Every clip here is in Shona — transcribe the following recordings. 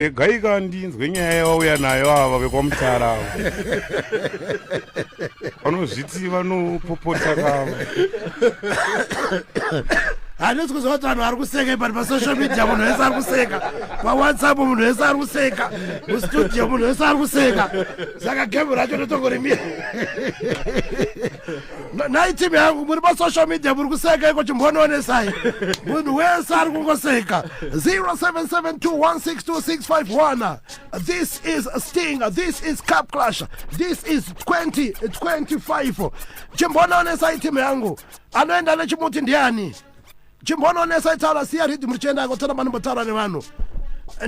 regaika ndinzwe nyaya yavauya nayo ava vekwamutara ava vanozviti vanopopota kava handisi kuziva kuti vanhu vari kuseka ipani pasocial media munhu wese ari kuseka pawhatsapp munhu wese ari kuseka mustudio munhu wese ari kuseka saka gemu racho ndotongorimira nhai team yangu muri pasocial media muri kuseka iko chimbonoonesai munhu wese ari kungoseka 0772162651 this is sting this is cap clash this is 2025 chimbonoonesai team yangu anoenda nechimuti ndiani chimbononesa itaura siya rhythm richienda yako tsana manombotaura nevanhu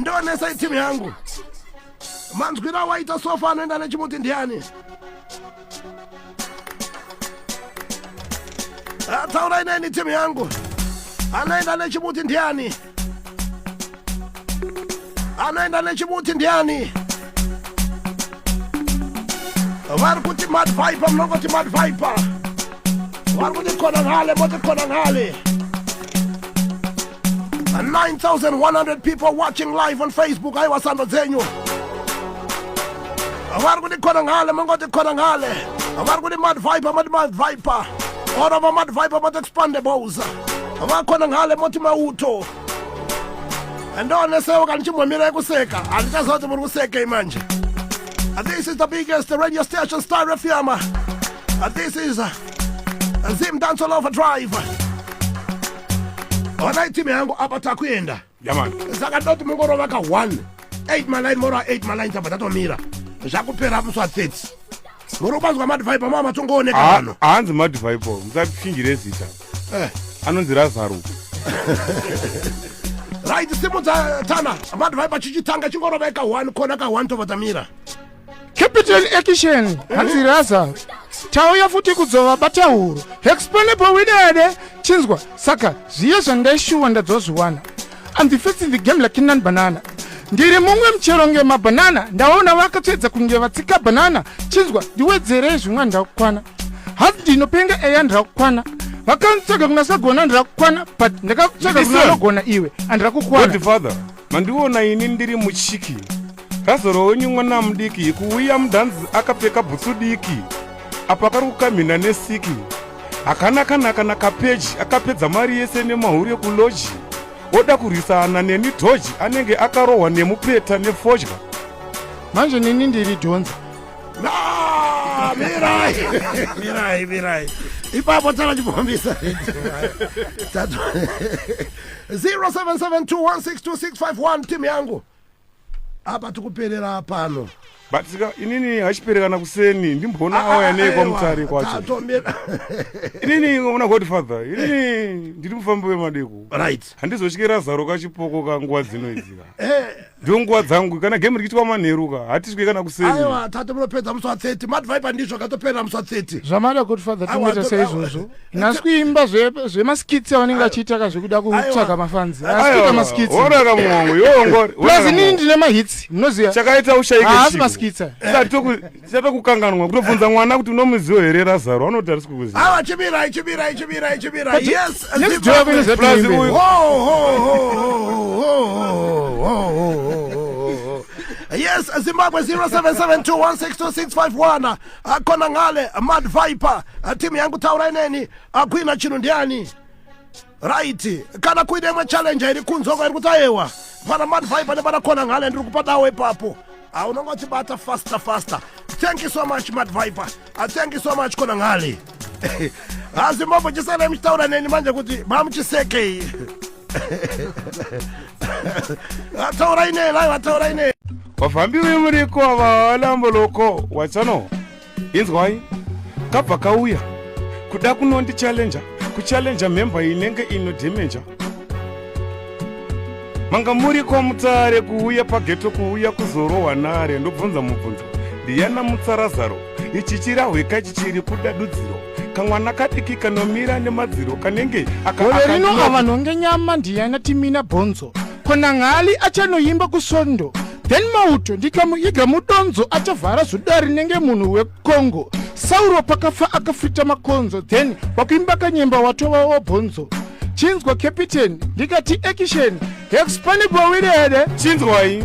ndionesa itimu yangu manzwira waita sofa anoenda nechimuti ndiani ataurai neni timu yangu anoenda nechimuti ndiani anoenda nechimuti ndiani vari kuti mad viper munongoti mad viper vari kuti kona nhale moti kona nhale 9100 people watching live on facebook aiwa sando dzenyu vari kuti kona nhale mongoti kona nhale vari kuti mad viper moti mad viper orova mad viper moti expandables vakona nhale moti mauto handionesewo kana chimbomira kuseka handichaziva kuti muri kusekei manje uh, this is the biggest radio station star fm uh, this is uh, zim dance all over drive onai team yangu apa takuenda saka ndoti mungorova ka 1 8 maline mora 8 maline tabva tatomira zvakupera muswa 30 muri kubanzwa madvibe mava matongooneka vano ah, hanzi madvibe musapfingire zita eh, anonzi razaro right simu dzatana vanhu vai pachichitanga chingorova ika one kona ka one tova dzamira capital action eh? hanzi raza tauya futi kudzova batauro explainable widede chinzwa saka zviye zvandaishuwa ndadzozviwana I'm the first in the game like nan banana ndiri mumwe muchero nge mabanana ndaona vakatsvedza kunge vatsika banana chinzwa ndiwedzerei zvimwa ndakukwana hanzi ndinopenga eya ndakukwana vakanitsvaga kuna sagona ndakukwana but ndakakutsvaga kuna anogona iwe andrakukwana mandiona ini ndiri muchiki Razoro wenyu mwana mudiki kuuya mudhanzi akapfeka bhutsu diki apa kari kukamhina nesiki hakana kana kana kapeji akapedza mari yese nemahure kuloji oda kurwisana neni dhoji anenge akarohwa nemupeta nefodya manje nini ndiri dhonza mirai mirai mirai ipapo tana chipomisa 0772162651 timu yangu apa tikuperera pano but sika inini hachiperekana kuseni ndimboona ah, ah, auya nei kwamutare kwacho inini ona godfather inini ndiri mufambi wemadeko right handizotyera zaro kachipoko ka nguva dzino idzika eh. ndo nguva dzangu kana game rikiitwa manheruka hatiswe kana kuseni aiwa tate munopedza musi wa 30 madviper ndizvo katoperera musi wa 30 zvamada godfather tingoita seizvozvo nhasi kuimba zvemaskits zve avanenge vachiita ka zvekuda kutsvaga mafanzi asikita maskits orara muhongo yongori plus inini ndine mahits munoziva chakaita ushaike haasi maskits chata kukanganwa kutobvunza mwana kuti unomuziwo here razaro anoti arisi kukuziva awa chibira chibira chibira chibira yes plus uyu yes zimbabwe 0772162651 akona ngale mad viper timu yangu taurai neni akuina chinhu ndiani right kana kuine imwe challenge iri kunzwa kwairi kuti ayewa pana mad viper nepana kona ngale ndiri kupa dawo ipapo ah, unonge uchibata faster faster thank you so much mad viper ah, thank you so much kona ngale hazimbombo ah, chisana muchitaura neni manje kuti mamuchisekei vataura ine vai vataura ine vafambi vemuriko avalamboloko watsano inzwai kabva kauya kuda kunondichallenja kuchallenja mhemba inenge ino demenja manga muri kwamutsare kuuya pageto kuuya kuzorohwa nare ndobvunza mubvunzo ndiyana mutsarazaro ichichirahweka chichiri kuda dudziro kamwana kadiki kanomira nemadziro kanenge gore rino ava nhonge nyama ndiyana timina bhonzo kona ngali achanoimba kusondo then mauto ndikamuiga mudonzo achavhara zuda rinenge munhu wekongo sauro pakafa akafita makonzo then wakuimba kanyemba watova wobhonzo chinzwa capitani ndikati ekisheni hexpanibowiri here chinzwai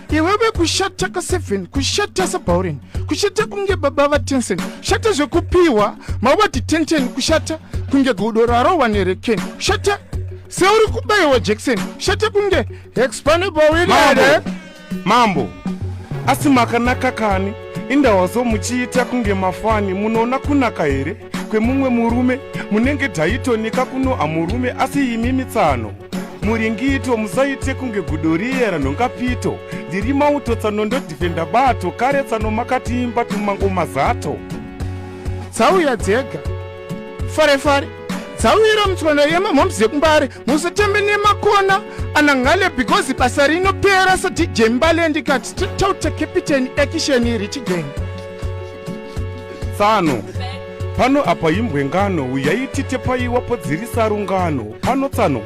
iwewe kushata ka 7 kushata sabauren kushata kunge baba va tensen shata zvekupiwa mawati tenten kushata kunge gudo rarowa nereken shata seuri kubayiwa jackson shata kunge hexpanebawinere mambo asi makanaka kani indawazo muchiita kunge mafani munoona kunaka here kwemumwe murume munenge taitonika kunoha murume asi imi mitsano muringito musaite kunge gudo riye ranhongapito ndiri mauto tsano ndodhifenda bato kare tsano makatiimba tumango mazato dzauya dzega fare fare dzauyira mutswano yemamhoms yekumbare musatambe nemakona anangale because basa rinopera sadj mbale ndikati totauta capitani ekisheni richigenge tsano pano apa imbwe ngano uyai titepaiwa podzirisa rungano pano tsano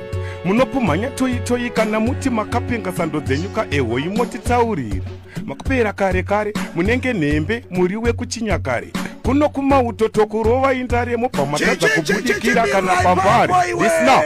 munopumhanya toyi toyi kana muti makapenga sando dzenyu ka ehoyi motitaurira makupera kare kare munenge nhembe muri wekuchinyakare kuno kumauto tokurova indare mobva matadza kubudikira kana pambare isna